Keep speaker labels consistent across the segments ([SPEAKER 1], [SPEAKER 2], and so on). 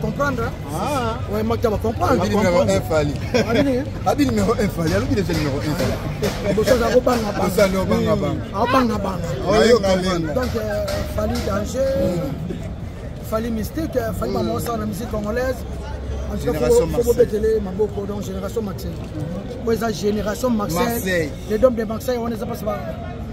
[SPEAKER 1] comprendre ah. ouais mata ba comprendre abi numéro 1 fali
[SPEAKER 2] abi numéro 1 fali alobi déjà numéro 1 fali boso za ko banga banga boso no banga banga a banga banga oyo comprendre donc
[SPEAKER 1] fali danger fali mystique fali maman mm. ça la musique congolaise en tout cas faut bobetele maboko donc génération maxel po eza génération maxel les dom de maxel on eza pas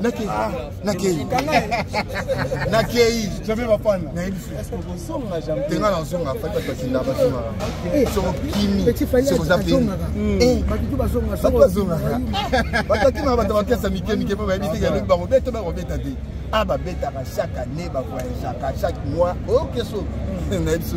[SPEAKER 2] nakei ah. nakei nakei jamais bapana nayebi tenga nazonga fati bato batinda bazongaka eh. soko kimi soko oza penibazongaka hmm. eh. batakima bato bakesa mike mike mpo bayebi te yalobi bakobeta bakobeta te a ah, babetaka chaque année bavoyageaka chaque mois okeso oh, hmm. nayebi so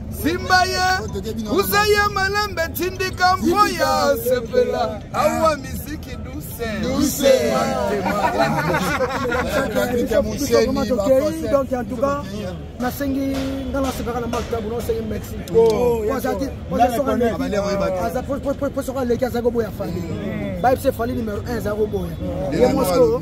[SPEAKER 3] simba ye usa ye malembe tindika mpo ya sepela awa misiki dusedonk
[SPEAKER 1] antuka nasengi nga nasepaka na maktabu nasengi merci po soki aleki azali koboya fali bayebisa fali numero 1 ezali koboya ye mosko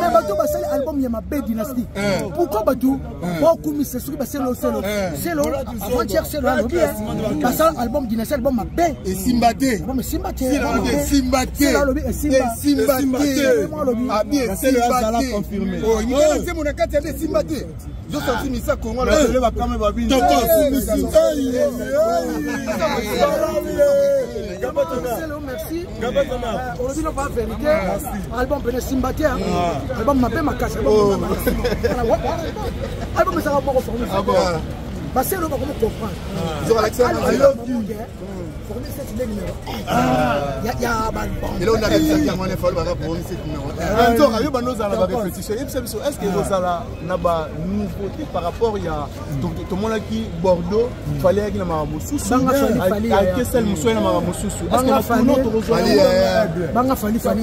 [SPEAKER 1] mais bato basali album ya mabe dynastie eh. pourquoi bato eh. baokumisa soki baselo selo eh. selo avant-hier selo alobi basala album dynastie album mabe esimba te album
[SPEAKER 2] esimba te esimba te selo alobi esimba esimba te
[SPEAKER 1] abi esimba te
[SPEAKER 2] oyo oh, nzembo na kati ya esimba te olobi no ba
[SPEAKER 1] verité album pene simba te album mabe makasi album ezaka moko forme baselo bakomi comprendre eloko na repesaki
[SPEAKER 2] yango wana efali baka promi site numero nzoka yo bando ozala ba
[SPEAKER 4] repetition yebisa biso est ce que ekozala na ba nouveauté par rapport ya tomonaki bordeaux fali ayaki na makambo mosusu akesali mosusu aye na makambo mosusu est ce que mafuno tokozwa banga fali
[SPEAKER 1] fali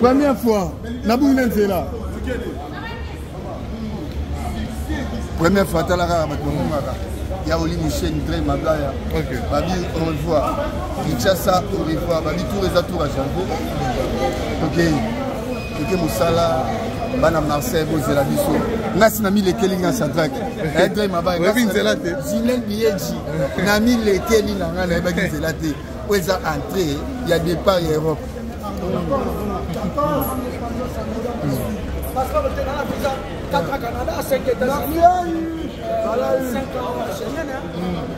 [SPEAKER 2] Première fois, la boule est là. Première fois, t'as la rare, maintenant, ya oli michel dre mabaya babi au revoir kinshasa au revoir babi tour eza tour ya jango tokei toke mosala bana marseille bozela biso ngasi na milekeli nga sadrak edre eh, mabayebi nzela te
[SPEAKER 5] zinel biyeji
[SPEAKER 2] na milekeli na ngai nayebaki nzela te oyo eza entré ya départ ya europe
[SPEAKER 1] Canada, 5 États-Unis, 5 ans,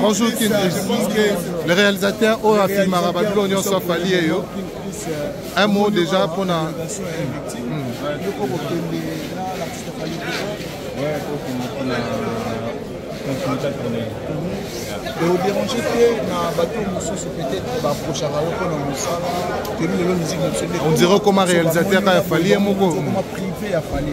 [SPEAKER 5] Bonjour Kin, je pense que le réalisateur oyo afilmaka babilo nyonso afali ye yo un mot déjà mpo na
[SPEAKER 4] odérange te na bato mosusu peut-être baprochaka yo mpo na mosala toyebi lelo musique na
[SPEAKER 5] biso on dirait okoma réalisateur ya fali ye moko okoma privé ya
[SPEAKER 4] fali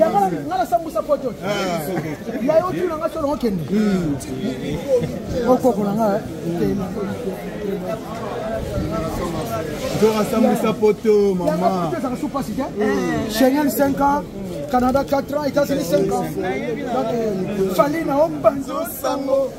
[SPEAKER 2] yango nga nasambusa poto
[SPEAKER 1] ya yo tuna nga solo okende okokola nga
[SPEAKER 4] nzora sambusa poto mama ezaka su pasi te
[SPEAKER 1] cheniel 5 ans canada 4 ans états-unis 5 ans fali na ombanzo sango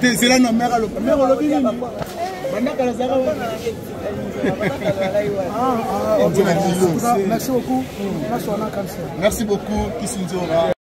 [SPEAKER 5] tezela
[SPEAKER 4] na mare
[SPEAKER 1] aloba
[SPEAKER 4] mare olobi nini bandaka nazaka
[SPEAKER 1] merci
[SPEAKER 4] beaucoup
[SPEAKER 1] merci
[SPEAKER 4] beaucoup kisinzora